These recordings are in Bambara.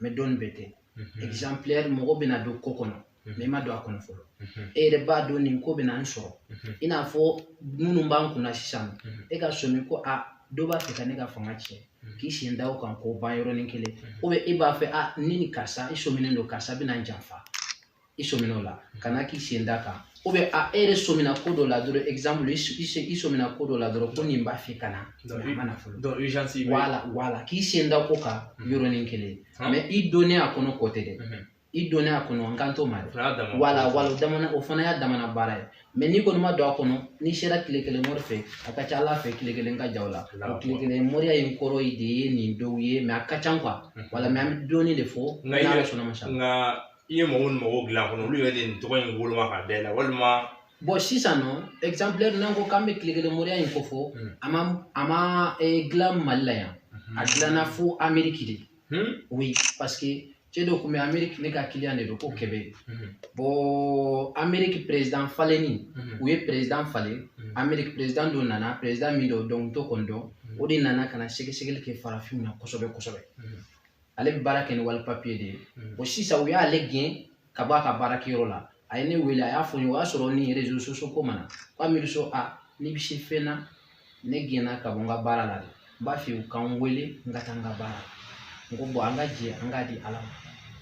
mɛ dɔnni bɛɛ tɛ mhm. exemplaire mɔgɔ bɛna don ko kɔnɔ mhm. mɛ i ma don a kɔnɔ fɔlɔ mhm. e yɛrɛ b'a dɔn nin ko bɛna n sɔrɔ i n'a fɔ minnu b'an kunna sisan e ka sɔmi ko a dɔ b'a fɛ ka ne ka fanga tiɲɛ k'i sen da o kan k'o ban yɔrɔnin kelen e b'a fɛ ne ni karisa i sɔminen don karisa bɛna n janfa i sɔmina o la ka na k'i sen da kan ou bien a e yɛrɛ sɔmina ko dɔ la dɔrɔn exemple i sɔmina ko dɔ la dɔrɔn ko nin b'a fɛ ka na a ma na fɔlɔ donc urgence bɛ wala wala k'i sen da ko kan yɔrɔnin kelen mais i donnen a kɔnɔ kɔ tɛ dɛ i donnen a kɔnɔ n kan t'o ma dɛ wala wala damana o fana y'a damana baara ye mais n'i kɔni ma don a kɔnɔ n'i sera tile kelen mori fɛ a ka ca ala fɛ tile kelen ka jan o la o tile kelen moriya in kɔrɔ de ye nin dɔw ye mais a ka ca quoi wala mais an bɛ dɔɔnin de fɔ n'ala sɔnna ma sa i ye mɔgɔ minnu mago dilan kɔnɔ olu yɛrɛ de nin tɔgɔ in woloma ka da i la walima bɔn sisan nɔ ɛkizanpilɛri n'an ko k'an bɛ tile kelen moriya in ko fɔ hmm. a ma a ma eh, dilan mali la yan hmm. a dilanna fo ameriki de hmm? oui parce que cɛ dɔ tun bɛ ameriki ne ka kiliyan de don ko kɛbɛ bɔn ameriki perezidan falenni u ye perezidan falen ameriki perezidan dɔ nana perezidan min don donald trump kɔni don o de nana ka na sɛgɛsɛgɛli kɛ farafinw na kosɛbɛ kosɛbɛ ale bɛ baara kɛ ni wali papiye de ye bɔn sisan u y'ale gɛn ka bɔ a ka baarakɛyɔrɔ la a ye ne wele a y'a fɔ n ye o y'a sɔrɔ ni réseaux sociaux ko ma na ko amidu so a n'i bɛ se fɛn na ne gɛnna ka bɔ n ka baara la dɛ n b'a fɛ u ka n wele n ka taa n ka baara n ko bɔn an ka jɛ an k'a di ala ma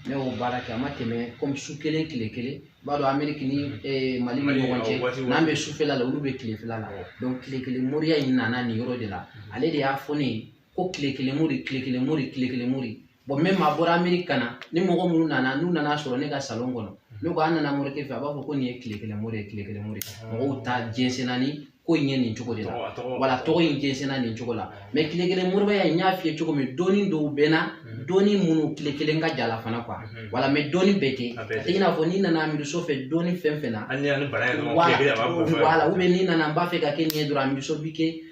ne y'o baara kɛ a ma tɛmɛ kɔmi su kelen tile kelen i b'a dɔn ameriki ni eh, mali ni ɲɔgɔn cɛ n'an bɛ sufɛla la olu bɛ tilefɛla la donc tile kelen moriya in nana nin yɔrɔ de la ale de y'a fɔ ne ye ko tile kelen mori tile kelen mori tile kelen mori bɔn même a bɔra ameriki ka na ni mɔgɔ minnu nana n'u nana sɔrɔ ne ka salon kɔnɔ ne ko an nana morikɛ fɛ a b'a fɔ ko nin ye tile kelen mori ye tile kelen mori mɔgɔw ta jɛnsɛnna ni ko in ye nin cogo de la wala tɔgɔ in jɛnsɛnna nin cogo la mɛ tile kelen moriya in n y'a f'i ye cogo min dɔnni dɔw bɛ n na dɔnni minnu tile kelen ka jan a la fana kuwa wala mɛ dɔnni bɛɛ tɛ i n'a fɔ n'i nana amidu so fɛ dɔnni fɛn fɛn na wala wala ubiyɛn n'i nana n b'a fɛ ka kɛ nin ye dɔrɔn amidu so bi kɛ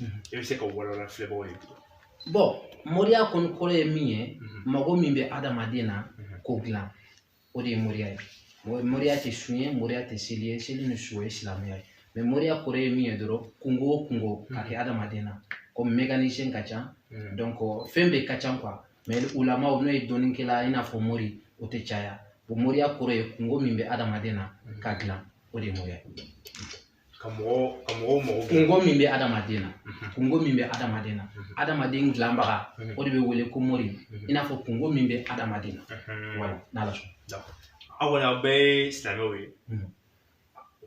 Mhm. e bɛ se ka walawala filɛbagaw ye cogo bɔn moriya kɔni kɔrɔ ye min ye mhm. mago min bɛ adamaden na mhm. k'o dilan o de ye moriya ye moriya tɛ sun ye moriya tɛ seli ye seli ni sun ye silamɛya ye mɛ moriya kɔrɔ ye min ye dɔrɔn kunko o kunko ka kɛ adamaden na komi mécanicien ka ca donc fɛn bɛɛ ka ca quoi mɛ ulamaw n'o ye dɔnnikɛla i n'a fɔ mori o tɛ caya o moriya kɔrɔ ye kunko min bɛ adamaden na k'a dilan o de ye moriya ye ka mɔgɔw ka mɔgɔw mago dilan kunko min bɛ adamaden na kunko min bɛ adamaden na adamaden dilanbaga o de bɛ wele ko mori i n'a fɔ kunko min bɛ adamaden na voilà n'ala sɔnna aw kɔni aw bɛɛ ye silamɛw ye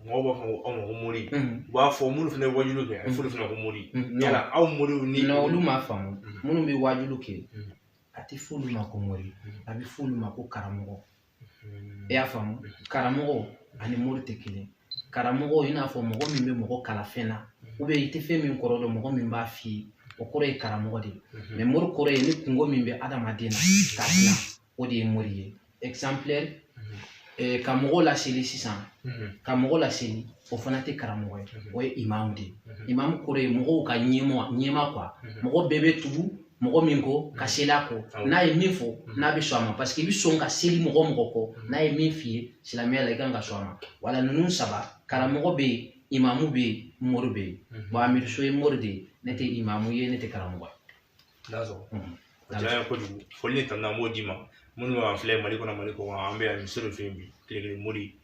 mɔgɔw b'a fɔ aw ma ko mori u b'a fɔ minnu fana ye wajuliw kɛ a bɛ f'olu fana ko mori yala aw moriw ni olu m'a faamu minnu bɛ wajuliw kɛ a tɛ f'olu ma ko mori a bɛ f'olu ma ko karamɔgɔ i y'a faamu karamɔgɔ ani mori tɛ kelen karamɔgɔ i n'a fɔ mɔgɔ min bɛ mɔgɔ kalan fɛn na ou bien i tɛ fɛn min kɔrɔ dɔn mɔgɔ min b'a f'i ye o kɔrɔ ye karamɔgɔ de ye mais mori kɔrɔ ye ni kunko min bɛ adamaden na k'a dilan o de ye mori ye ka mɔgɔw laseli sisan ka mɔgɔw laseli o fana tɛ karamɔgɔ ye o ye imamu de ye imamu kɔrɔ ye mɔgɔw ka ɲɛmɔ ɲɛmaa quoi mɔgɔ bɛɛ bɛ tugu mɔgɔ min kɔ ka seli a kɔ n'a ye min fɔ n'a bɛ sɔn a ma parce que i bɛ sɔn ka seli mɔgɔ mɔgɔ kɔ n'a ye min f'i ye silamɛya la i kan ka sɔn a ma voilà ninnu saba karamɔgɔ bɛ yen imamu bɛ yen mori bɛ yen bon amidu so ye mori de ye ne tɛ imamu ye ne tɛ karamɔgɔ ye. a diyara n ye kojugu foli ni tanu an b'o d'i ma minnu b'an filɛ mali kɔnɔ mali kɔkan an bɛ amidu so de fɛ yen bi tile kelen mori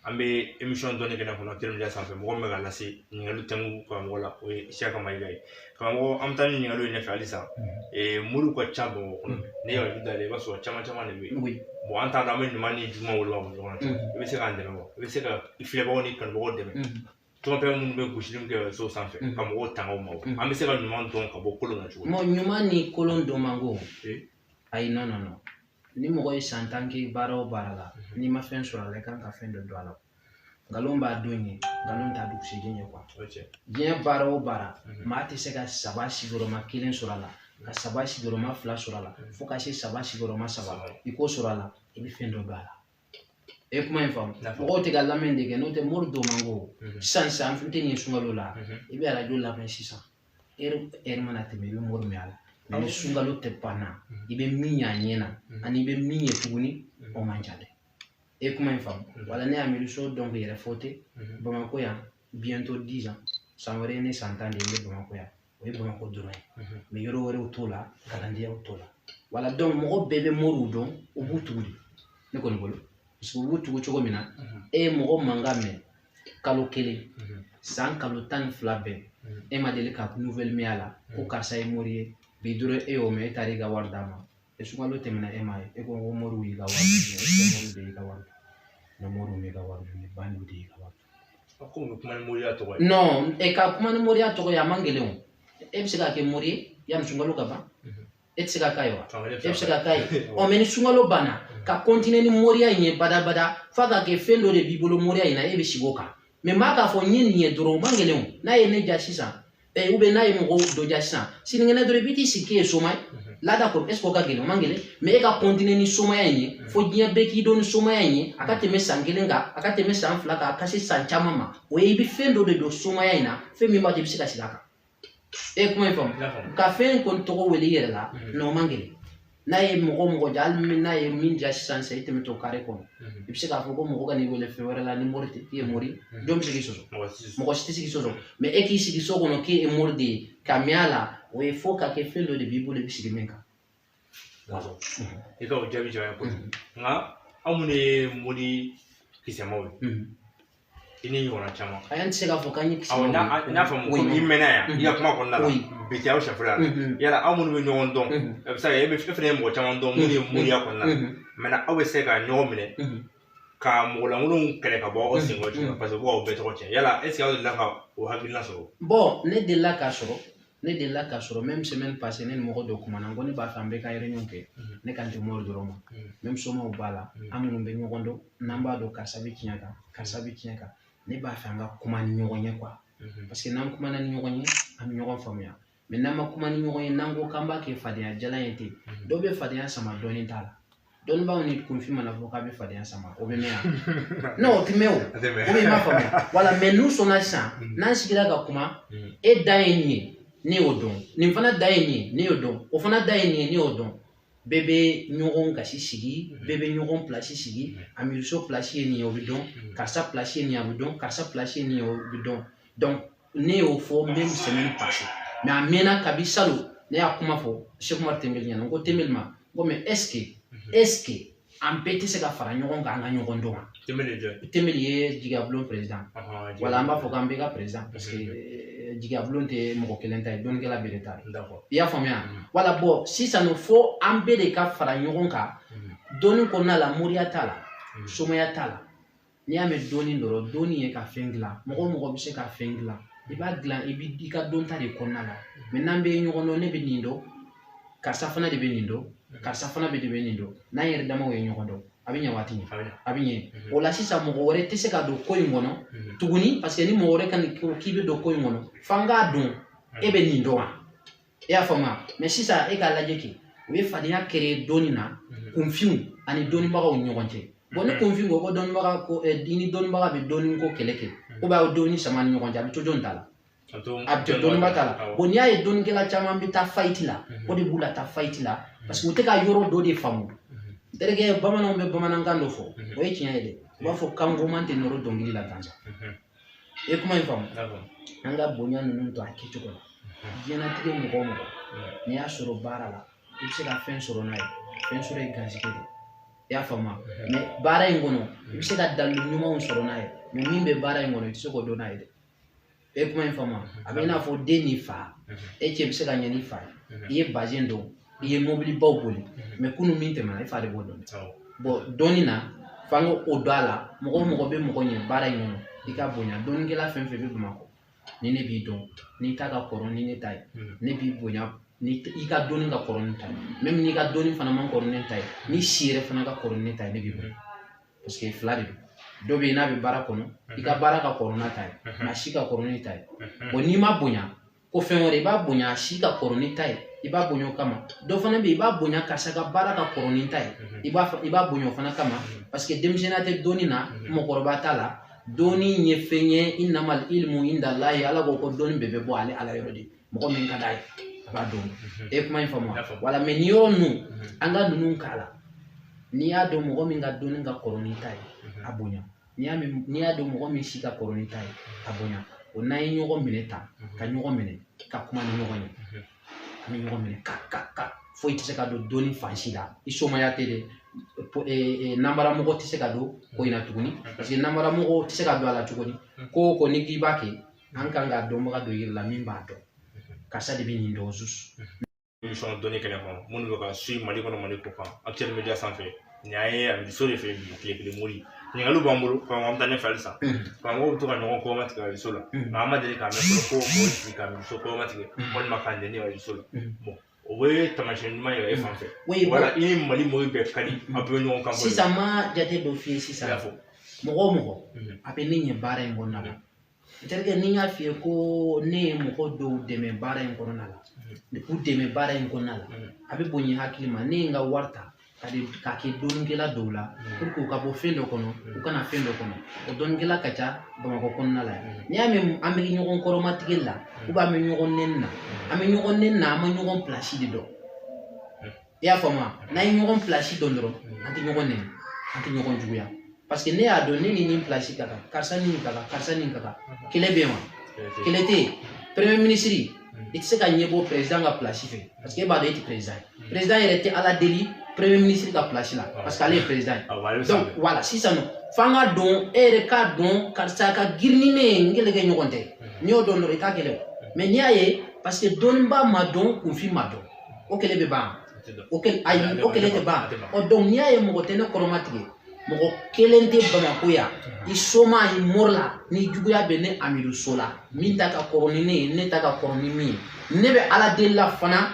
an bɛ émission dɔnni kɛnɛ kɔnɔ teriya sanfɛ mɔgɔ min bɛ ka lase ɲininkali tɛmu karamɔgɔ la o ye siyaka mayiga ye karamɔgɔ an bɛ taa ni ɲininkaliw ye ɲɛfɛ halisa moriw ka ca bamakɔ kɔnɔ ne yɛrɛ da i b'a sɔrɔ caman caman de bɛ yen bon an t'a dɔn an bɛ ɲuman ni juguman wolo ɲɔgɔn na i bɛ se k'an dɛmɛ wa i bɛ se ka i filɛbagaw ni kanubagaw dɛmɛ tɔnfɛn minnu bɛ gosili min kɛ so sanfɛ ka mɔgɔw tanga o ma an bɛ se ka ɲuman dɔn ka bɔ kolon na cogo min ɲuman ni kolon dɔn man go ayi non non ni mɔgɔ ye san tan kɛ baara o baara la mhm. n'i ma fɛn sɔrɔ a la i kan ka fɛn dɔ dɔn a la nkalon b'a don ye nkalon t'a dugusɛjɛ ye quoi diɲɛ baara o baara mhm. maa tɛ se ka saba sigiyɔrɔma kelen sɔrɔ a la ka saba sigiyɔrɔma fila sɔrɔ a la mhm. fo ka se saba sigiyɔrɔma saba i k'o sɔrɔ a la i bɛ fɛn dɔ dɔn a la e kuma in faamu mɔgɔw tɛ ka lamɛn de kɛ n'o tɛ mori dɔn man go sisan sisan an tɛ nin sunkalo la i bɛ arajo lamɛn sisan heure heure mana tɛmɛ i bɛ mori mɛn a la mais ni sunkalo tɛ banna i bɛ min y'a ɲɛ na ani i bɛ min ye tuguni o man ca dɛ e kuma in faamu voilà ne amidu so don k'i yɛrɛ fɔ ten bamakɔ yan bientôt dix ans san wɛrɛ ye ne san tan de ye n bɛ bamakɔ yan o ye bamakɔ dɔrɔn ye yɔrɔ wɛrɛw t'o la kalandenyaw t'o la voilà mɔgɔ bɛɛ bɛ moriw dɔn u b'u tugu de ne kɔni bolo u b'u tugu cogo min na e ye mɔgɔ mankan mɛn kalo kelen san kalo tan ni fila bɛɛ e ma deli ka nouvelle mɛn a la ko karisa ye mori ye bi dɔrɔn e y'o mɛn e taara i ka wari d'a ma sunkalo tɛmɛna e m'a ye e ko ko moriw y'i ka wari minɛ e ko moriw de y'i ka wari minɛ moriw y'i ka wari minɛ ba n'u de y'i ka wari non e ka kuma ni moriya tɔgɔ ye a man gɛlɛn o e bɛ se ka kɛ mori ye yanni sunkalo ka ban e tɛ se ka k'a ye wa e bɛ se ka k'a ye ɔ mais ni sunkalo banna ka continuer ni moriya in ye badabada f'a ka kɛ fɛn dɔ de b'i bolo moriya in na e bɛ sigi o kan mais maa k'a fɔ n ye nin ye dɔrɔn o man gɛlɛn o n'a ye ne ja sisan ou bien n'a ye mɔgɔ dɔ ja sisan sinikɛnɛ dɔrɔn i bɛ t'i sigi k'e ye soma ye laada kɔrɔ est-ce que o ka gɛlɛn o man gɛlɛn mais e ka continuer ni somaya in ye fo diɲɛ bɛɛ k'i dɔn ni somaya in ye a ka tɛmɛ san kelen kan a ka tɛmɛ san fila kan a ka se san caman ma o ye i bɛ fɛn dɔ de dɔn somaya in na fɛn min b'a to i bɛ se ka sigi a kan e kuma in faamu ka fɛn kɔni tɔgɔ wele i yɛrɛ la non o man gɛlɛn n'a ye mɔgɔ mɔgɔ ja hali n'a ye min ja sisan sisan i tɛmɛtɔ carré kɔnɔ i bɛ se k'a fɔ ko mɔgɔ kan'i wele fɛn wɛrɛ la ni mori tɛ k'i ye mori jɔn bɛ se k'i sɔsɔ mɔgɔ si tɛ se k'i sɔsɔ mais e k'i sigi so kɔnɔ k'e ye mori de ye ka mɛn a la o ye fo ka kɛ fɛn dɔ de b'i bolo i bɛ sigi min kan. i ka o jaabi jara n ye kojugu nka anw minnu ye mori kisɛmaw ye i ni ɲɔgɔnna caman a y'an tɛ se k'a fɔ k'an ye kisɛmaw ye n'a fɔ ko i mɛnna yan i ka kuma kɔnɔna la bi tɛ aw sɛfula yala aw minnu bɛ ɲɔgɔn dɔn a bɛ se ka kɛ e fana ye mɔgɔ caman dɔn minnu ye moriya kɔnɔna la mais aw bɛ se ka ɲɔgɔn minɛ ka mɔgɔ lankolonw kɛlɛ ka bɔ aw senkɔrɔ cogo la parce que u b'aw bɛɛ tɔgɔ cɛn yala est-ce que aw delila ka o hakilina sɔrɔ bon ne delila k'a sɔrɔ ne delila k'a sɔrɔ même semaine passée ne ni mɔgɔ dɔ kumana n ko ne b'a fɛ an bɛɛ ka réunion kɛ mhm. ne kan tɛ mori dɔrɔn ma mhm. même somaw b'a la mhm. an minnu bɛ ɲɔgɔn dɔn n'an b'a dɔn karisa bɛ tiɲɛ kan karisa bɛ tiɲɛ kan ne b'a fɛ an ka kuma ni ɲɔgɔn ye quoi parce que n'an kumana ni ɲɔgɔn ye an bɛ ɲɔgɔn faamuya mais n'an ma kuma ni ɲɔgɔn ye n'an ko k'an b'a kɛ fadenya jalan ye ten dɔw bɛ fadenya sama dɔnni t'a la dɔnnibaaw ni kunfin mana fɔ k'a bɛ fadenya sama o bɛ mɛn yan non o tɛ mɛn o ou bien i m'a faamuya voilà mais n'u sɔnna sisan mm. n'an sigira ka kuma mm. e da ye nin ye ne y'o dɔn nin fana da ye nin ye ne y'o dɔn o fana da ye nin ye ne y'o dɔn bɛɛ bɛ ɲɔgɔn gasi sigi mm. bɛɛ bɛ ɲɔgɔn pilasi sigi amiruso pilasi ye nin ye o bɛ dɔn karisa pilasi ye nin ye a bɛ dɔn karisa pilasi ye nin ye o bɛ dɔn donc ne y'o fɔ même semaine passée mais a mɛnna kabi salon ne y'a kuma fɔ Seku Umaru Tembeli ɲɛna n ko Tembeli ma n ko mais est-ce que est-ce que an bɛɛ tɛ se ka fara ɲɔgɔn kan an ka ɲɔgɔn dɔn wa Tembeli ye jigiyabulon perezidan wala an b'a fɔ k'an bɛɛ ka perezidan parce que eh, jigiyabulon tɛ mɔgɔ kelen ta ye dɔnnikɛla bɛɛ de ta ye i y'a faamuya voilà bon sisan fo an bɛɛ de ka fara ɲɔgɔn kan dɔnni kɔnɔna la moriya t'a la somaya t'a la n'i y'a mɛn dɔnni dɔrɔn dɔnni ye ka fɛn dilan mɔgɔ o mɔgɔ bɛ se ka fɛn dilan i b'a dilan i bɛ i ka dɔnta de kɔnɔna la mais n'an bɛ ɲɔgɔn dɔn ne bɛ nin dɔn karisa fana de bɛ nin dɔn karisa fana bɛ de bɛ nin dɔn n'an yɛrɛ damaw ye ɲɔgɔn dɔn a bɛ ɲɛ wa a tɛ ɲɛ a bɛ ɲɛ mhm. o la sisan mɔgɔ wɛrɛ tɛ se ka don ko in kɔnɔ mhm. tuguni parce que ni mɔgɔ wɛrɛ ka nin k'i bɛ don ko in kɔnɔ f'an k'a dɔn e bɛ nin dɔn wa i y'a faamuya mais sisan e k'a lajɛ kɛ u ye fadenya créer dɔnni na mhm. kunfinw ani dɔnnibagaw ɲɔgɔn cɛ bon ni mhm. kunfin ko ko dɔnnibaga ko eh, i ni dɔnnibaga bɛ dɔnni ko kɛlɛ kɛ mhm. ou bien a ye dɔnni sama ni ɲɔgɔn cɛ a bɛ to jɔn ta la a bɛ to dɔnniba ta la bon n'i y'a ye dɔnnikɛla caman bɛ taa faillite la o de b'u la taa faillite la parce que u tɛ ka yɔrɔ dɔ de faamu terikɛ bamananw bɛ bamanankan dɔ fɔ o ye tiɲɛ ye dɛ u b'a fɔ kan goman tɛ nɔrɔ dɔnkili la gansan i ye kuma in faamu an ka bonya ninnu to a kɛcogo la diɲɛnatigɛ mɔgɔ o mɔgɔ n'i y'a sɔrɔ baara la i bɛ se ka fɛn sɔrɔ n'a ye fɛn sɔrɔ ye garisɛgɛ de i y'a faamu mais baara in kɔnɔ i bɛ se ka dalilu ɲumanw sɔrɔ n'a ye mais min bɛ baara in kɔnɔ i tɛ se k'o dɔn n'a ye dɛ e kuma in faamu a bɛ i n'a fɔ den ni fa e cɛ bɛ se ka ɲɛ n'i fa ye i ye bazɛn don i ye mɔbilibaw boli mhm. mais kunun min tɛmɛna i fa de b'o dɔn bon dɔnni na f'an k'o don a la mɔgɔ o mɔgɔ bɛ mɔgɔ ɲɛ baara in kɔnɔ i k'a bonya dɔnnikɛla fɛn fɛn bɛ bamakɔ ni ne b'i dɔn n'i ta ka kɔrɔ ni ne ta ye mhm. ne b'i bonya ni i ka dɔnni ka kɔrɔ ni n ta ye même n'i ka dɔnni fana man kɔrɔ ni ne ta ye n'i si yɛrɛ fana ka kɔrɔ ni ne ta ye ne b'i bonya parce que fila de don dɔ bɛ yen n'a bɛ baara kɔnɔ i ka baara ka kɔrɔ n'a ta ye nka a si ka kɔrɔ n'i ta ye bon n'i m'a bonya ko fɛn wɛrɛ i b'a bonya a si ka kɔrɔ n'i ta ye i b'a bonya o kama dɔ fana bɛ yen i b'a bonya karisa ka baara ka kɔrɔ n'i ta ye i b'a i b'a bonya o fana kama parce que denmisɛnninya tɛ dɔnni na mɔgɔkɔrɔba t'a la dɔnni ye fɛn ye innamal ilmu indallahi ala ko ko dɔnni bɛɛ bɛ bɔ ale ala yɔrɔ de mɔgɔ min ka d'a ye a b'a dɔn e kuma in faamu voilà mais nin yɔrɔ ninnu an ka ninnu k'a la n'i y'a dɔn mɔgɔ min ka dɔnni ka kɔrɔ n'i ta ye a bonya n'i y'a dɔn mɔgɔ min si ka kɔrɔ n'i ta ye a bonya o n'an ye ɲɔgɔn minɛ tan ka ɲɔgɔn minɛ ka kuma ni ɲɔgɔn ye an bɛ ɲɔgɔn minɛ ka ka ka foyi tɛ se ka don dɔnni fan si la i somaya tɛ dɛ nanbaramɔgɔ tɛ se ka don ko in na tuguni parce que nanbaramɔgɔ tɛ se ka don a la tuguni ko o ko n'i k'i b'a kɛ an kan ka dɔnbaga dɔ yir'i la min b'a dɔn karisa de bɛ nin dɔn émission dɔnni kɛnɛ kɔnɔ minnu bɛ k'an suivre mali kɔnɔ mali kɔkan Actuel Media sanfɛ nin y'an ye a so de fɛ bi tile kelen mori ɲininkaliw b'an bolo karamɔgɔ an bɛ taa ɲɛfɛ halisa karamɔgɔw bɛ to ka ɲɔgɔn kɔrɔmatigɛ arajo la nka an ma deli k'a mɛn fɔlɔ ko mɔgɔ sigi ka muso kɔrɔmatigɛ walima k'a nɛni arajo la bon o bɛ taamasiyɛn ɲuman yira e fan fɛ wala i ni mali mɔgɔw bɛɛ ka di a bɛɛ bɛ ɲɔgɔn kan sisan n bɛ jate dɔ f'i ye sisan mɔgɔ o mɔgɔ a bɛ ne ɲɛ baara in kɔnɔna na Terikɛ ni n y'a f'i ye ko ne ye mɔgɔ dɔw dɛmɛ baara in kɔnɔna la de k'u dɛmɛ baara in kɔnɔna la a bɛ bonya n hakili ma ne ye n ka wari ta k'a di k'a kɛ dɔnnikɛla dɔw la pour que u ka bɔ fɛn dɔ kɔnɔ u ka na fɛn dɔ kɔnɔ o dɔnnikɛla ka ca bamakɔ kɔnɔna la yan n'i y'a mɛn an bɛ ɲɔgɔn kɔrɔmatigɛ la ou bien an bɛ ɲɔgɔn nɛni na an bɛ ɲɔgɔn nɛni na an ma ɲɔgɔn pilasi de dɔn i y'a faamu n'an ye ɲɔgɔn pilasi dɔn dɔrɔn an tɛ ɲɔgɔn nɛni an tɛ ɲɔgɔn juguya parce que ne y'a dɔn ne ni nin pilasi ka kan karisa ni nin ka kan karisa ni nin ka kan kɛlɛ bɛ yen wa kɛlɛ tɛ yen premier ministre i tɛ se ka ɲɛbɔ président ka pilasi fɛ parce que e b'a dɔn e tɛ président ye président yɛrɛ tɛ ala deli premier ministre ka pilasi la parce que ale ye président ye donc voilà sisan nɔ f'an k'a dɔn e yɛrɛ k'a dɔn karisa ka girin ni ne ye n kɛlɛkɛɲɔgɔn tɛ n'i y'o dɔn dɔrɔn i t'a kɛlɛ o mais n'i y'a ye parce que dɔnnibaa ma dɔn kunfin ma dɔn o kɛlɛ bɛ ban o kɛlɛ ayi o kɛlɛ tɛ ban ɔ donc n'i y'a ye mɔgɔ tɛ ne kɔrɔmatigɛ mɔgɔ kelen tɛ bamakɔ yan i soma i mori la ni juguya bɛ ne amidu so la min ta ka kɔrɔ ni ne ye ne ta ka kɔrɔ ni min ye ne bɛ ala deli la fana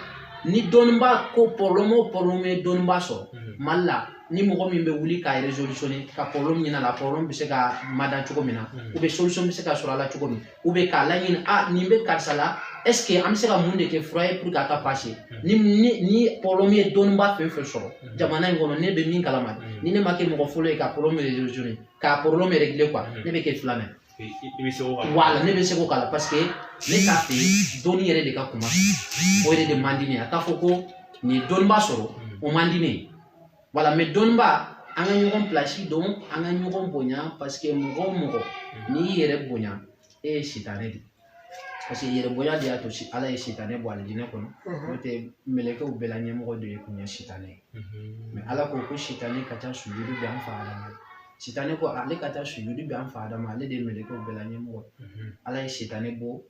ni dɔnnibaa ko problème o problème ye dɔnnibaa sɔrɔ mhm. mali la ni mɔgɔ min bɛ wuli k'a résolutionner ka problème ɲini a la problème bɛ se ka mada cogo min na mhm. ou bien solution bɛ se ka sɔrɔ a la cogo min ou bien k'a laɲini a ah, nin bɛ karisa la est-ce que an bɛ se ka mun de kɛ fura ye pour que a ka passer hmm. ni ni ni problème ye dɔnniba fɛn fɛn sɔrɔ hmm. jamana in kɔnɔ ne bɛ min kalama hmm. ni ne ma kɛ mɔgɔ fɔlɔ ye ka problème résolutionner k'a problème régler quoi ne bɛ kɛ filanan ye. i bɛ se k'o kala. voilà ne bɛ se k'o kala parce que ne t'a fɛ dɔnni yɛrɛ de ka kuma o yɛrɛ de man di ne ye a k'a fɔ ko nin ye dɔnniba sɔrɔ o man di ne ye. voilà mais dɔnniba an ka ɲɔgɔn pilasi dɔn an ka ɲɔgɔn bonya parce que mɔgɔ o mɔgɔ n'i y'i yɛrɛ bonya e ye sitanɛ de parce que yɛrɛ bonya de y'a to ala ye sitanɛ bɔ alijinɛ kɔnɔ n'o tɛ mɛlɛkɛw bɛɛ la ɲɛmɔgɔ de ye kun ye sitanɛ ye mais ala ko ko sitanɛ ka taa sujudi bɛ an fa adama sitanɛ ko ale ka taa sujudi bɛ an fa adama ale de ye mɛlɛkɛw bɛɛ la ɲɛmɔgɔ ala ye sitanɛ bɔ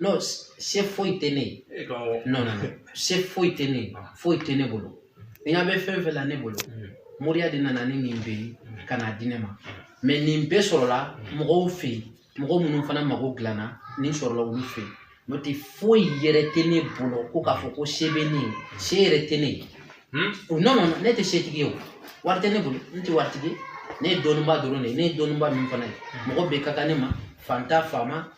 non se foyi tɛ ne ye e non non se foyi tɛ ne ye ah. foyi tɛ ne bolo n'i ɲa bɛ fɛn fɛn la ne bolo mm. moriya de nana ni nin bɛɛ ye mm. ka n'a di ne ma mm. mais nin bɛɛ sɔrɔla mɔgɔw fɛ yen mɔgɔ minnu fana mago dilanna nin sɔrɔla olu fɛ yen n'o tɛ foyi yɛrɛ tɛ ne bolo ko k'a fɔ ko se bɛ ne ye se yɛrɛ tɛ ne ye hmm? o non non ne tɛ setigi ye o wari tɛ ne bolo n tɛ waritigi ye ne ye dɔnnibaa dɔrɔn de ye ne ye dɔnnibaa min fana ye mɔgɔ bɛɛ ka kan ne ma fanta faama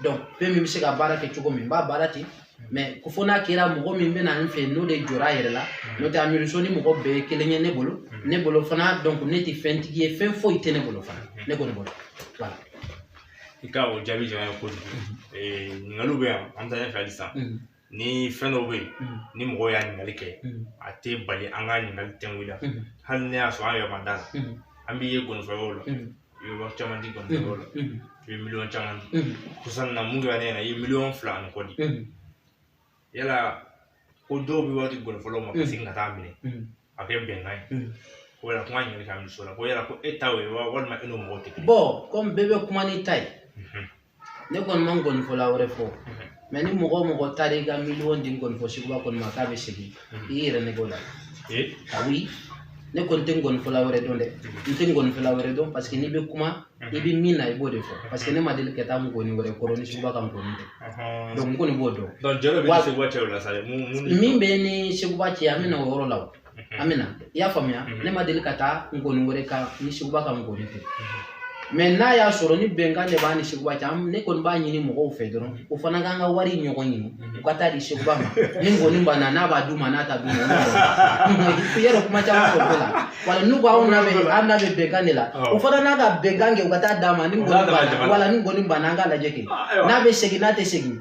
donc fɛn min bɛ se ka baara kɛ cogo min n b'a baara ten mais ko fo n'a kɛra mɔgɔ min bɛ na n fɛ n'o de jɔra a yɛrɛ la n'o tɛ amidu so ni mɔgɔ bɛɛ ye kelen ye ne bolo ne bolo fana donc ne tɛ fɛntigi ye fɛn foyi tɛ ne bolo fana ne kɔni bolo voilà. i ka o jaabi jara n ye kojugu ɲininkaliw bɛ yan an bɛ taa ɲɛfɛ halisa ni fɛn dɔw bɛ yen ni mɔgɔw y'a ɲininkali kɛ a tɛ bali an ka ɲininkali tɛŋun la hali n'a y'a sɔrɔ an yɛrɛ ma d'a la an b'i ye gɔnifɔyɔrɔ la i bɛ wari caman di gɔnifɔyɔrɔ la i bɛ miliyɔn caman di kosa in na min kɛra ne ɲɛ na i ye miliyɔn fila ani kɔ di yala ko dɔw bɛ wari di gɔnifɔlaw ma ka segin ka t'a minɛ a kɛ bɛnkan ye ko yala kuma ɲininkali k'a muso la ko yala ko e ta ye wa walima e n'o mɔgɔw tɛ kelen bon comme bɛɛ bɛ kuma n'i ta ye ne kɔni ma nkɔnifɔla wɛrɛ fɔ mais ni mɔgɔ o mɔgɔ taara i ka miliyɔn di nkɔnifɔ seguba kɔni ma k'a bɛ segin i yɛrɛ nɛgɛn o la awi ne kɔni tɛ nkɔnifɔla wɛrɛ dɔn dɛ n tɛ nkɔnifɔla wɛrɛ dɔn paseke n'i bɛ kuma i bɛ min na i b'o de fɔ paseke ne ma deli ka taa nkɔni wɛrɛ kɔrɔ ni seguba ka nkɔni tɛ donc n kɔni b'o dɔn min bɛ ni seguba cɛ an bɛ na o yɔrɔ la an bɛ na i y'a faamuya ne ma deli ka taa nkɔni wɛrɛ kan ni seguba ka nkɔni tɛ mais n'a y'a sɔrɔ ni bɛnkan de b'a ni seguba cɛ ne kɔni b'a ɲini mɔgɔw fɛ dɔrɔn o fana ka n ka wari ɲɔgɔn ɲini u ka taa di seguba ma ni nkɔni banna n'a b'a d'u ma n'a t'a d'u ma yɛrɛ kuma caman fɔ bɛɛ la wala n'u ko an n'a bɛ an n'a bɛ bɛnkan de la o fana n'a ka bɛnkan kɛ u ka taa d'a ma ni nkɔni banna wala ni nkɔni banna an k'a lajɛ kɛ n'a bɛ segin n'a tɛ segin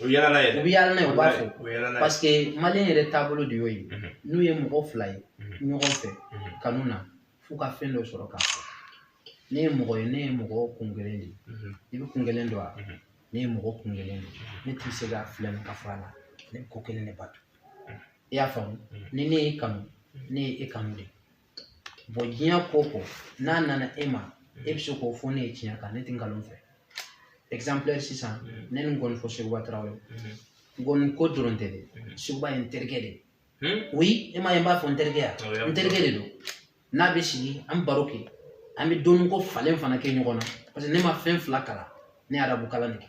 o yaala n'a ye dɛ. u bɛ yaala n'a ye u b'a fɔ o yaala n'a ye parce que maliyɛn yɛrɛ taabolo de y'o ye n'u ye mɔgɔ fila ye ɲɔgɔn fɛ kanu na f'u ka fɛn dɔ sɔrɔ k'a fɔ ne ye mɔgɔ ye ne ye mɔgɔ kun kelen de ye i bɛ kun kelen dɔn wa ne ye mɔgɔ kun kelen de ye ne tɛ se ka filɛ nin ka fɔ a la ne bɛ ko kelen de bato i y'a faamu ni ne y'i kanu ne ye e kanu de ye. diɲɛ ko o ko n'a nana e ma e bɛ se k'o fɔ ne ye tiɲɛ kan ne tɛ nkalon fɛ exemplaire sisan ne ni nkɔnifɔ Seguba Tarawele nkɔni ko dɔrɔn tɛ dɛ Seguba ye n terikɛ de ye oui e m'a ye n b'a fɔ n terikɛ ya n terikɛ de don n'a bɛ sigi an baro kɛ an bɛ dɔnni ko falen fana kɛ ɲɔgɔn na parce que ne ma fɛn fila kalan ne ye arabu kalan de kɛ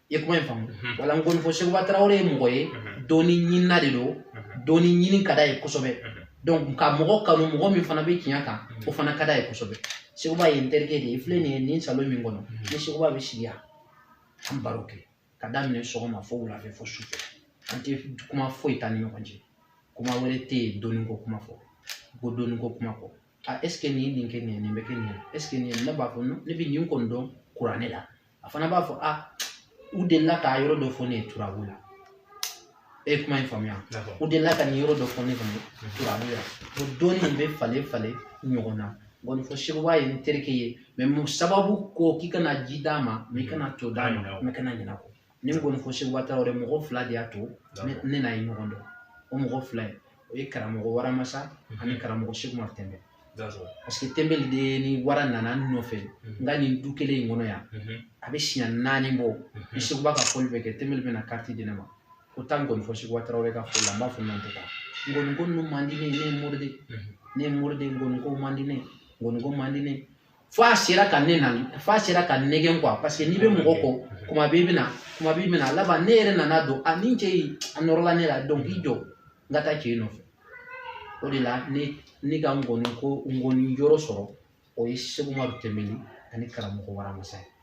i ye kuma in faamu mhm. wala nkɔnifɔ seguba tarawele ye mɔgɔ ye mhm. dɔnni ɲinina de don mhm. dɔnni ɲini ka d'a ye kosɛbɛ donc ka mɔgɔ kanu mɔgɔ min fana bɛ tiɲɛ kan o fana ka d'a ye kosɛbɛ seguba ye n terikɛ de ye filɛ nin ye nin salon min kɔnɔ ni seguba bɛ sigi yan an baro kɛ ka daminɛ sɔgɔma fo wulafɛ fo sufɛ an tɛ kuma foyi t'an ni ɲɔgɔn cɛ kuma wɛrɛ tɛ yen dɔnni ko kuma fɔ kɔ dɔnni ko kuma fɔ a est ce que nin ye nin kɛ nin ye nin bɛ kɛ nin ye est ce que nin ye ne b'a fɔ ne bɛ nin kɔni dɔn kuranɛ la a fana b'a fɔ a u delila k'a yɔrɔ dɔ fɔ ne ye turabu la e ye kuma in faamuya u delila ka nin yɔrɔ dɔ fɔ ne fana turabu la o dɔnni in bɛ falen falen ɲɔgɔn na nkɔnifɔ seguba ye n terikɛ ye mais mun sababu ko k'i kana ji d'a ma mais i kana to d'a ma mais kana ɲinɛ a kɔ ni nkɔnifɔ seguba tarawele mɔgɔ fila de y'a to ne n'a ye ɲɔgɔn dɔn o mɔgɔ fila ye o ye karamɔgɔ waramasa ani karamɔgɔ seku umaru tɛnbɛ parce que tɛnbɛli de ni wara nana nɔfɛ n ka nin du kelen in kɔnɔ yan a bɛ siɲɛ naani bɔ ni seguba ka fɔli bɛ kɛ tɛnbɛli bɛna kariti di ne ma ko taa nkɔnifɔ seguba tarawele ka fɔli la n b'a fɔ n tɛ taa nkɔni ko ninnu man di ne ye ne ye mori de ne ye mori de ye nkɔni ko man di ne ye nkɔni ko man di ne ye fo a sera ka ne na fo a sera ka n nɛgɛn quoi parce que n'i bɛ mɔgɔ kɔ kuma bɛɛ i bɛna kuma bɛɛ i bɛna laban ne yɛrɛ nana dɔn a nin cɛ in a nɔrɔla ne la donc i jɔ n ka taa cɛ in nɔfɛ o de la ne ne ka ngɔni ko ngɔni yɔrɔ sɔrɔ o ye seku umaru tɛnbɛli ani karamɔgɔ waramasa ye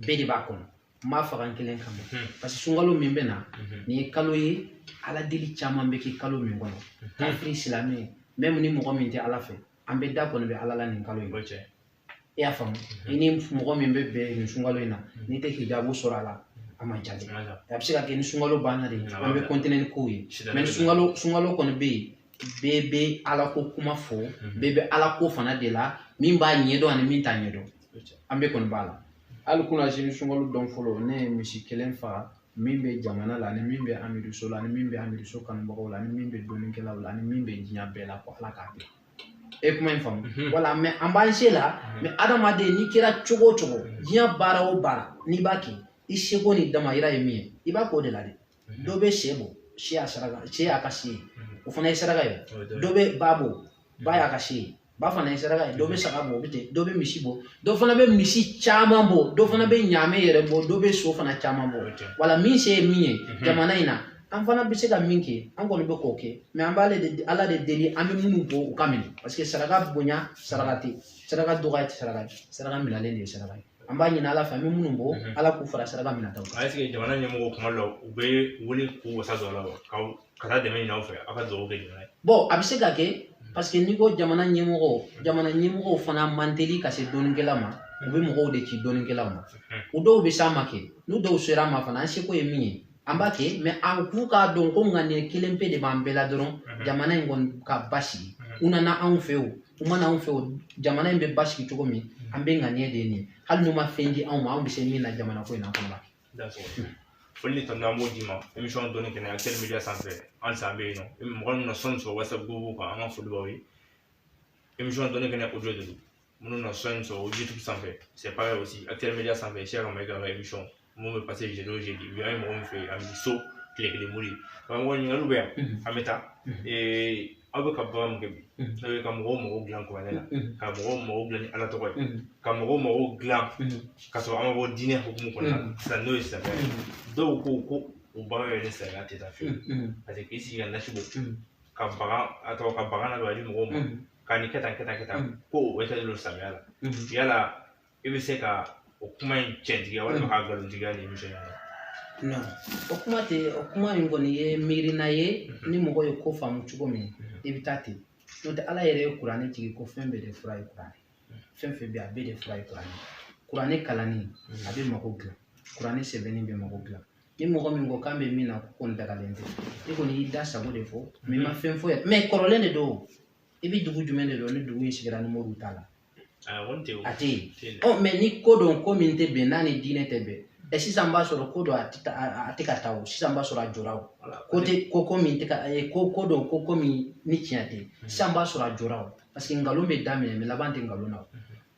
bɛɛ de b'a kɔnɔ n b'a faga n kelen kama hmm. parce que sunkalo min bɛ na hmm. nin ye kalo ye ala deli caman bɛ kɛ kalo min kɔnɔ hmm. kafiri silamɛ même ni mɔgɔ min tɛ ala fɛ an bɛɛ da kɔni bɛ ala la nin kalo in i y'a faamu i ni mɔgɔ min bɛ bɛn nin sunkalo in na n'i tɛ hijabu sɔrɔ a la a ma jate a bɛ se ka kɛ ni sunkalo banna de an bɛ continuer ni kow ye mais sunkalo sunkalo kɔni bɛ yen bɛɛ bɛ alako kuma fɔ mhm. bɛɛ bɛ alako fana de la min b'a ɲɛdɔn ani min t'a ɲɛdɔn an bɛɛ kɔni b'a la hali kunasini sunkalo don fɔlɔ ne ye misi kelen faga min bɛ jamana la ani min bɛ amidu so la ani min bɛ amidu so kanubagaw la ani min bɛ dɔnnikɛlaw la ani min bɛ diɲɛ bɛɛ la ko ala k'a bila e kuma in faamu mhm. wala mais an b'an se la mhm. mais adamaden n'i kɛra cogo o cogo diɲɛ baara o baara n'i b'a kɛ i seko n'i damayira ye min ye i b'a k'o de la dɛ dɔ bɛ sɛ bɔ sɛ y'a saraka sɛ y'a ka se ye o fana ye saraka ye dɔ bɛ ba bɔ ba y'a ka se ye ba fana ye saraka ye dɔ bɛ saga bɔ o bɛ ten dɔ bɛ misi bɔ dɔ fana bɛ misi caman bɔ dɔ fana bɛ ɲaamɛ yɛrɛ bɔ dɔ bɛ so fana caman bɔ wala min se ye min ye jamana in na an fana bɛ se ka min kɛ an kɔni bɛ k'o kɛ mais an b'ale de ala de deli an bɛ minnu bɔ u ka minɛ parce que saraka bonya saraka tɛ saraka dɔgɔya tɛ saraka ye saraka minɛlen de ye saraka ye an b'a ɲini ala fɛ an bɛ minnu bɔ mhm. ala k'u fara saraka minɛtaw kan est-ce que jamana ɲɛmɔgɔ kuma dɔ u bɛ wuli k'u wasa don aw la wa ka taa dɛmɛ ɲini aw fɛ aw ka dugawu kɛ jamana ye bon a bɛ se ka kɛ mhm. parce que n'i ko jamana ɲɛmɔgɔ mhm. jamana ɲɛmɔgɔw fana man teli ka se dɔnnikɛla ma u bɛ mɔgɔw de ci dɔnnikɛlaw ma o dɔw bɛ s'an ma kɛ n'u dɔw sera an ma fana an seko ye min ye an b'a kɛ mais an k'u k'a dɔn ko ŋaniya kelen pe de b'an bɛɛ la dɔrɔn mhm. jamana in kɔni ka basigi mhm. u nana anw fɛ o u ma na anw fɛ o jamana in bɛ basigi cogo min mhm. an bɛɛ ŋaniya de nin hali n'u ma fɛn di anw ma anw bɛ se min na jamana ko in na an fana b'a kɛ foli ni tanu an b'o d'i ma émission dɔnni kɛnɛ actuel media sanfɛ an san bɛ yen nɔ mɔgɔ minnu na son in sɔrɔ whatsapp groupe kan an ka foli b'aw ye émission dɔnni kɛnɛ audio de don minnu na son in sɔrɔ youtube sanfɛ c'est pareil aussi actuel media sanfɛ cheikh mayiga ka émission min bɛ passer jeudi o jeudi bi an ye mɔgɔ min fɛ yen amidu so tile kelen mori karamɔgɔ ɲininkaliw bɛ yan an bɛ taa aw bɛ ka baara min kɛ bi n'o ye ka mɔgɔw mago dilan kuranɛ la ka mɔgɔw mago dilan ni ala tɔgɔ ye ka mɔgɔw mago dilan ka sɔrɔ an ma bɔ diinɛ hukumu kɔnɔna na sisan n'o ye silamɛya ye dɔw ko ko o baara yɛrɛ ni silamɛya tɛ taa fiyewu parce que k'i sigi ka nasi bɔ ka bagan a tɔgɔ ka bagan na don a di mɔgɔw ma ka nin kɛ tan kɛ tan kɛ tan ko o tɛ don silamɛya la yala i bɛ se ka o kuma in cɛntigiya walima k'a nkalontigiya nin émission in na non o kuma tɛ o kuma in kɔni ye miirina ye ni mɔgɔ ye ko faamu cogo min i bɛ taa ten n'o tɛ ala yɛrɛ ye kuranɛ jigin ko fɛn bɛɛ de fura ye kuranɛ fɛn fɛn bɛ yen a bɛɛ de fura ye kuranɛ kuranɛ kalanni a bɛ mago dilan kuranɛ sɛbɛnni bɛ mago dilan ni mɔgɔ min ko k'an bɛ min na k'o kɔni dagalen tɛ i kɔni y'i da sago de fɔ mais i ma fɛn fɔ yan mais kɔrɔlen de don i bɛ dugu jumɛn de dɔn ni dugu in sigira ni moriw t'a la a tɛ yen ɔ mais ni ko don ko min tɛ bɛn n'a ni diinɛ tɛ bɛn ɛ sisan b'a sɔrɔ ko dɔ a tɛ a tɛ ka taa o sisan b'a sɔrɔ a jɔra o ko tɛ ko ko min tɛ ka ko ko don ko ko min ni tiɲɛ tɛ sisan b'a sɔrɔ a jɔra o parce que nkalon bɛ daminɛ mais laban tɛ nkalon na o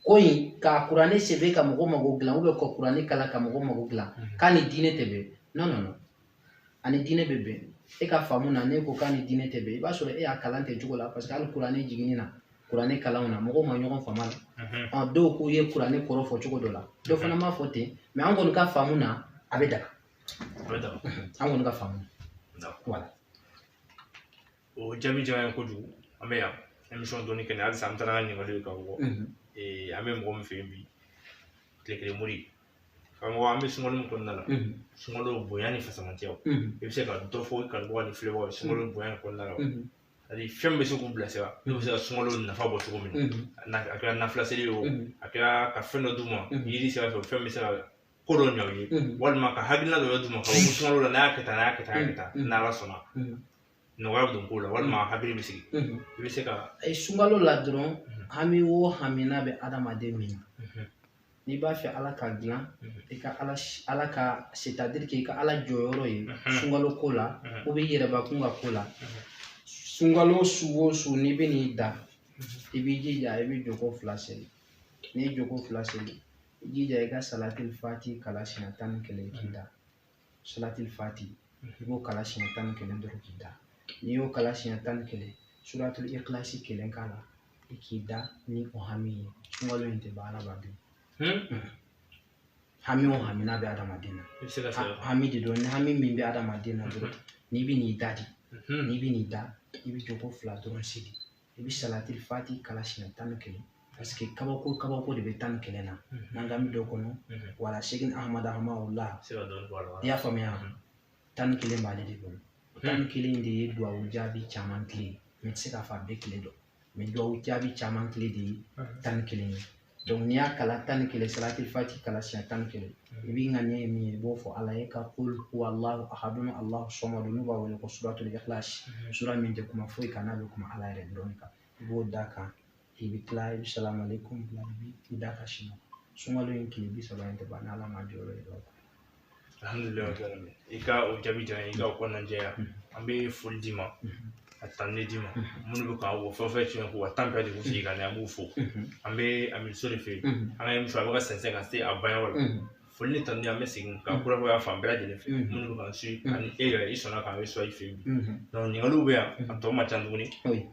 ko i ka kuranɛ sɛbɛn ka mɔgɔ mago dilan ou bien ka kuranɛ kalan ka mɔgɔ mago dilan mhm. k'a ni diinɛ tɛ bɛn non non non a ni diinɛ bɛ bɛn e ka faamu na n'e ko k'a ni diinɛ tɛ bɛn i b'a sɔrɔ e y'a kalan tɛ cogo la parce que hali kuranɛ jiginni na kuranɛ kalanw na mɔgɔw ma ɲɔgɔn faamu a la mhm. ɔ dɔw k'u ye kuranɛ kɔrɔ fɔ cogo dɔ la dɔ fana m'a fɔ ten mais an kɔni ka faamu na a bɛ daga an kɔni ka faamu na voilà o jaabi diyara an ye kojugu an bɛ yan émission dɔɔni kɛ ni halisa an taara ɲininkali kan bon ee an bɛ mɔgɔ min fɛ yen bi tile kelen mori karamɔgɔ an bɛ sunkalo min kɔnɔna la sunkalo bonya ni fisamantiya i bɛ se ka dɔ fɔ i kanubagaw ni filɛbagaw ye sunkalo bonya in kɔnɔna la ani fɛn min bɛ se k'u bilasira n'u bɛ se ka sunkalo nafa bɔ cogo min na a kɛra nafila seli ye o a kɛra ka fɛn dɔ d'u ma yiri sira fɛ fɛn bɛ se ka ko dɔ ɲɛ u ye walima ka hakilina dɔ d'u ma k'a fɔ sunkalo la n'a y'a kɛ tan n'a y'a kɛ tan n'a y'a kɛ tan n'ala sɔnna nɔgɔya bɛ don ko la walima mm. hakili bɛ sigi mm-hmm. i bɛ se ka a ye sunkalo la dɔrɔn mm-hmm. hami o hami n'a bɛ adamaden min na mm-hmm. n'i b'a fɛ ala k'a dilan i ka ala ala ka c'est-à-dire k'i ka ala jɔyɔrɔ ye sunkalo ko la ou bien i yɛrɛbakun ka ko la sunkalo su o su n'i bɛ n'i da i b'i jija i bɛ joko fila seli n'i ye joko fila seli i jija i ka salatil fati kalan siɲɛ tan ni kelen k'i da salatil fati i b'o kalan siɲɛ tan ni kelen dɔrɔn k'i da n'i y'o kalan siɲɛ tan ni kelen suratul ikilasi kelen k'a la i k'i da ni o hami ye sunkalo in tɛ ban adamaden hami o hami n'a bɛ adamaden na hami de don ni hami min bɛ adamaden na dɔrɔn n'i bɛ n'i da de n'i bɛ n'i da i bɛ joko fila dɔrɔn seli i bɛ salatil fati kalan siɲɛ tan ni kelen parce que kabako kabako de bɛ tan ni kelen na n'an k'an bɛ don a kɔnɔ wala sheikh ahamadu hamawula i y'a faamuya tan ni kelen b'ale de bolo tan ni kelen de ye duwawu jaabi caman kile mais n tɛ se k'a fɔ a bɛɛ kile don mais duwawu jaabi caman kile de ye tan ni kelen ye donc n'i y'a kalan tan ni kelen salatil fati kalan siɲɛ tan ni kelen i b'i ŋaniya ye min ye i b'o fɔ ala ye ka kul huwallahu ahadun allahu sɔmadu n'u b'a wele ko suratul ikhlas sura min tɛ kuma foyi kan n'a bɛ kuma ala yɛrɛ dɔrɔn kan i b'o d'a kan i bɛ tila i bɛ salamu aleykum bila i b'i da ka sinɔ sunkalo in tile bi saba in tɛ ban n'ala ma jɔyɔrɔ ye dɔrɔn alhamdulilayi i ka o jaabi diyara i ka o kɔnɔna jɛya an bɛ foli d'i ma ka tanuni d'i ma minnu bɛ k'an wɔ fɛn fɛn tiɲɛ k'u ka temps bɛɛ de sigi ka na an b'u fo an bɛ amiru so de fɛ yen an ka émission a bɛ ka sɛnsɛn ka se a banyɔrɔ la foli ni tanu an bɛ segin ka kurakuraya fan bɛɛ lajɛlen fɛ minnu bɛ k'an suit ani e yɛrɛ i sɔnna k'an reçoit i fɛ yen bi donc ɲininkaliw bɛ yan a tɔ man ca tuguni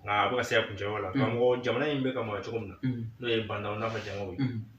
nka a bɛ ka se a kuncɛyɔrɔ la karamɔgɔ jamana in bɛ ka mara cogo min na n'o ye ba ndaw n'a ka jango ye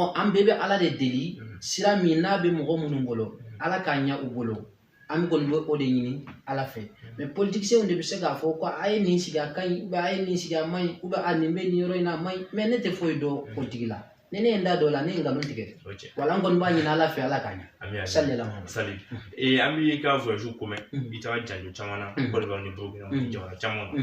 ɔ an bɛɛ bɛ ala de deli mm. sira min n'a bɛ mɔgɔ minnu bolo mm. ala k'a ɲɛ u bolo an bɛ kɔni bɛ o de ɲini ala fɛ mais mm. politiciens de bɛ se k'a fɔ ko a ye nin sigi a ka ɲi ou bien a ye nin sigi a man ɲi ou bien a nin bɛ nin yɔrɔ in na a man ɲi mais ne tɛ foyi dɔn politique la ni ne ye n da don o la ne ye nkalon tigɛ wala n kɔni b'a ɲini ala fɛ ala k'a ɲɛ sali yɛlɛma sali an b'i ka voyage ko mɛn i taara janjo caman na côte d'ivoire ni burukina jamana caman na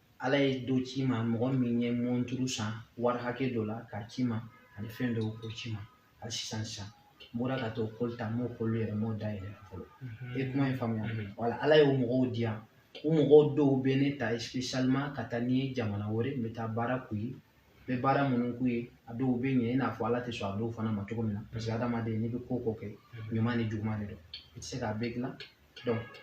ala ye dɔ ci n ma mɔgɔ min ye mɔnturu san wari hakɛ dɔ la k'a ci n ma ani fɛn dɔw k'o ci n ma hali sisan sisan n bɔra ka t'o colis ta n m'o colis yɛrɛ m'o dayɛlɛ fɔlɔ mhm. e kuma in faamuya mhm. wala ala y'o mɔgɔw di yan o mɔgɔw dɔw bɛ ne ta spécialement ka taa ni n ye jamana wɛrɛ n bɛ taa baara k'u ye n bɛ baara minnu k'u ye a dɔw bɛ ɲɛ i n'a fɔ ala tɛ sɔn a dɔw fana ma cogo min na parce que mhm. adamaden n'i bɛ ko o ko kɛ ɲuman ni juguman de don i tɛ se k'a bɛɛ dilan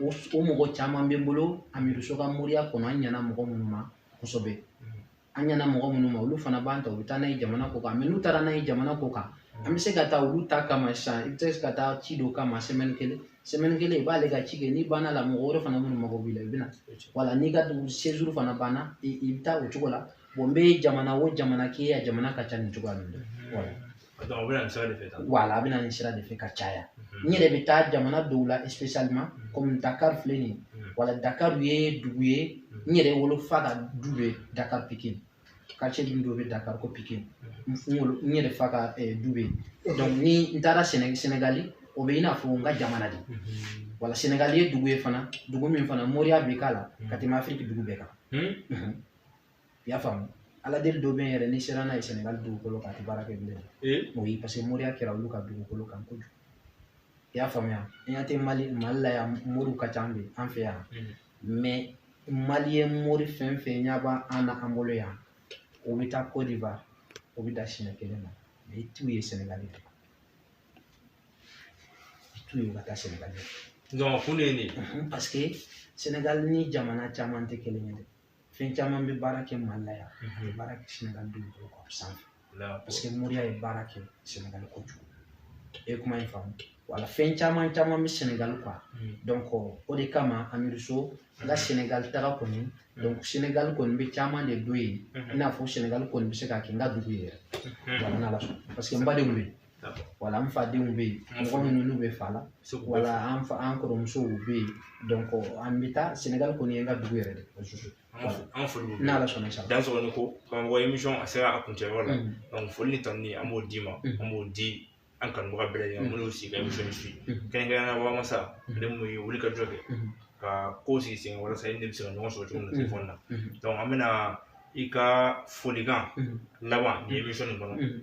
o o mɔgɔ caman bɛ n bolo amiru so ka moriya kɔnɔ an ɲɛna mɔgɔ minnu ma kosɛbɛ an ɲɛna mɔgɔ minnu ma olu fana b'an ta u bɛ taa n'an ye jamana kɔkan n'u taara n'an ye jamana kɔkan an bɛ se ka taa olu ta kama sisan i bɛ se ka taa ci dɔ kama semaine kelen semaine kelen i b'ale ka ci kɛ n'i banna la mɔgɔ wɛrɛ fana minnu mago b'i la i bɛ na wala n'i ka dugu séjour fana banna i i bɛ taa o cogo la n bɛ jamana o jamana k'i ye a jamana ka ca nin cogoya ninnu na wala Donc, u bɛ na nin sira de fɛ tan. Wala, a bɛ na nin sira de fɛ ka caya. N yɛrɛ bɛ taa jamana dɔw la spécialement comme Dakar filɛ nin ye, wala Dakar ye dugu ye, n yɛrɛ wolofa ka du bɛ Dakar Pikine, quartier min dɔ bɛ Dakar ko Pikine, n wolo n yɛrɛ fa ka du bɛ yen, donc ni n taara Séné Sénégali, o bɛ i n'a fɔ n ka jamana de, wala Sénégali ye dugu ye fana, dugu min fana moriya bɛ k'a la ka tɛmɛ Afrique dugu bɛɛ kan. i y'a faamu ala deli dɔ bɛ yen yɛrɛ n'i sera n'a ye sɛnɛgali dugukolo kan a tɛ baara kɛ bilen o ye parce que moriya kɛra olu ka dugukolo kan kojugu i y'a faamuya an y'a tɛ mali mali la yan moriw ka ca an bɛ an fɛ yan mais mali ye mori fɛn o fɛn ɲɛ b'a an na an bolo yan o bɛ taa côte d'ivoire o bɛ dan siɲɛ kelen ma mais i t'u ye sɛnɛgali fɛ i t'u ye u ka taa sɛnɛgali fɛ donc kun de ye nin ye parce que sɛnɛgali ni jamana caman tɛ kelen ye dɛ fɛn caman bɛ baara kɛ mali la yan a tɛ baara kɛ sɛnɛgali dugukolo kan sanfɛ parce que moriya ye baara kɛ sɛnɛgali kojugu e kuma in faamu wala fɛn caman caman bɛ sɛnɛgali quoi donc o de kama amiru so n ka sɛnɛgali taga kɔni sɛnɛgali kɔni bɛ caman de dɔn yen i n'a fɔ sɛnɛgali kɔni bɛ se ka kɛ n ka dugu ye yɛrɛ wala n'ala sɔnna parce que n ba de wele wala an fadenw bɛ yen mɔgɔ minnu n'u bɛ fa la wala an fa an kɔrɔmusow bɛ yen donc an bɛ taa sɛnɛgali kɔni ye n ka dugu yɛrɛ de an foli n'ala sɔnna sa dan sɔgɔni ko karamɔgɔ emisɔn a sera a kuncɛyɔrɔ la donc foli ni tanuni an b'o d'i ma an b'o di an kanubaga bɛɛ lajɛlen minnu y'u sigi ka emisɔn in suit kɛrɛnkɛrɛnnenya la wamasa ale min ye wuli ka jɔ kɛ ka ko sigi sen walasa i ni bɛ se ka ɲɔgɔn sɔrɔ cogo min na telefɔni na donc an bɛna i ka folikan laban ni emisɔn nin kɔnɔ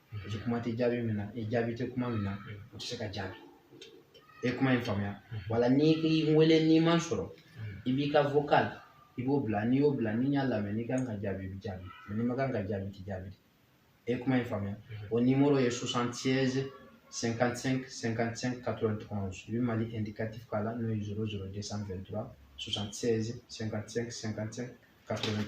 paseke kuma tɛ jaabi min na ni jaabi tɛ kuma min na o tɛ se ka jaabi i ye kuma in faamuya wala n'i ye n wele n'i ma n sɔrɔ i b'i ka vocal i b'o bila n'i y'o bila ni n y'a lamɛn n'i kan ka jaabi i bɛ jaabi n'i man kan ka jaabi i tɛ jaabi i ye kuma in faamuya o nimoro ye 76 55 55 91 i bɛ mali indicatif k'a la n'o ye 00 223 76 55 55 ka tɛmɛ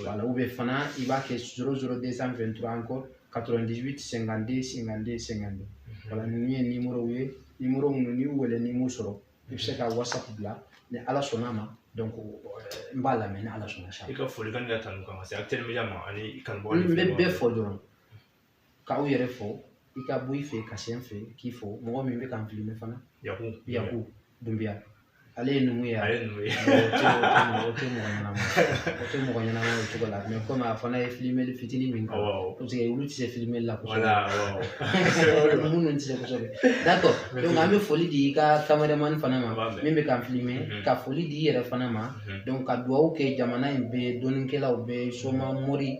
wala u bɛ fana i b'a kɛ zoro zoro de san fɛn tura an kɔ ka tɛmɛ dibi sɛgɛn de sɛgɛn de sɛgɛn de wala ninnu ye nimoro ye nimoro minnu n'i wele n'i m'u sɔrɔ i bɛ se ka wasa bila ni ala sɔnna a ma donc n b'a lamɛn ni ala sɔnna sa i ka folikan ka tanu kan ka se a teliya ma ani kanubɔ n bɛ bɛɛ fɔ dɔrɔn k'aw yɛrɛ fo i ka bɔ i fɛ ka se n fɛ k'i fo mɔgɔ min bɛ k'an filime fana yaku yaku dunbiya ale ye numu ye ale ye numu ye o tɛ mɔgɔ ɲɛnama o tɛ mɔgɔ ɲɛnama o cogo la mais comme a fana ye filimeli fitinin min kɛ parce que olu tɛ se filimeli la kosɛbɛ minnu tɛ se kosɛbɛ d'accord donc an bɛ foli di i ka kameremani fana ma min bɛ k'an filime mhm. ka foli di i yɛrɛ fana ma mhm. donc ka dugawu kɛ jamana in bɛɛ dɔnnikɛlaw bɛɛ soma mori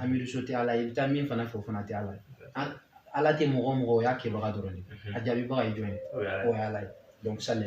amiruso tɛ ala ye i bɛ taa min fana fɛ o fana tɛ ala ye ala tɛ mɔgɔ o mɔgɔ o y'a kɛbaga dɔrɔn de a jaabibaga ye jɔn ye o ye ala ye donc sali